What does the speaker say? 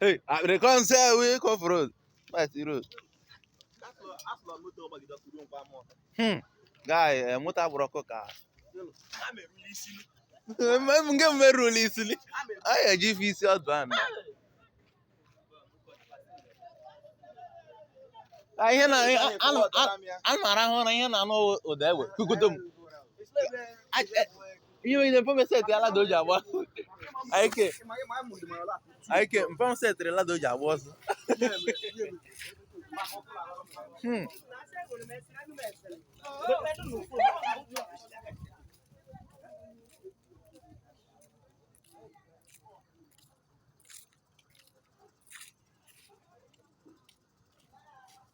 Hey, I dey come say I will come for road. Right, the road. Hmm. Guy, eh, moto agbụrụ ọkụ ka. Nke m merụla isili. A ga-eji ife isi ọdụ a na. Ka ihe na ana m arahụ ụra ihe na-anụ ụda egbe. Kukutum. ihe onye mfe mesetị ya lada o ji agba ọsọ ike mfe mesetịrị lada o ji agba ọsọ Hmm.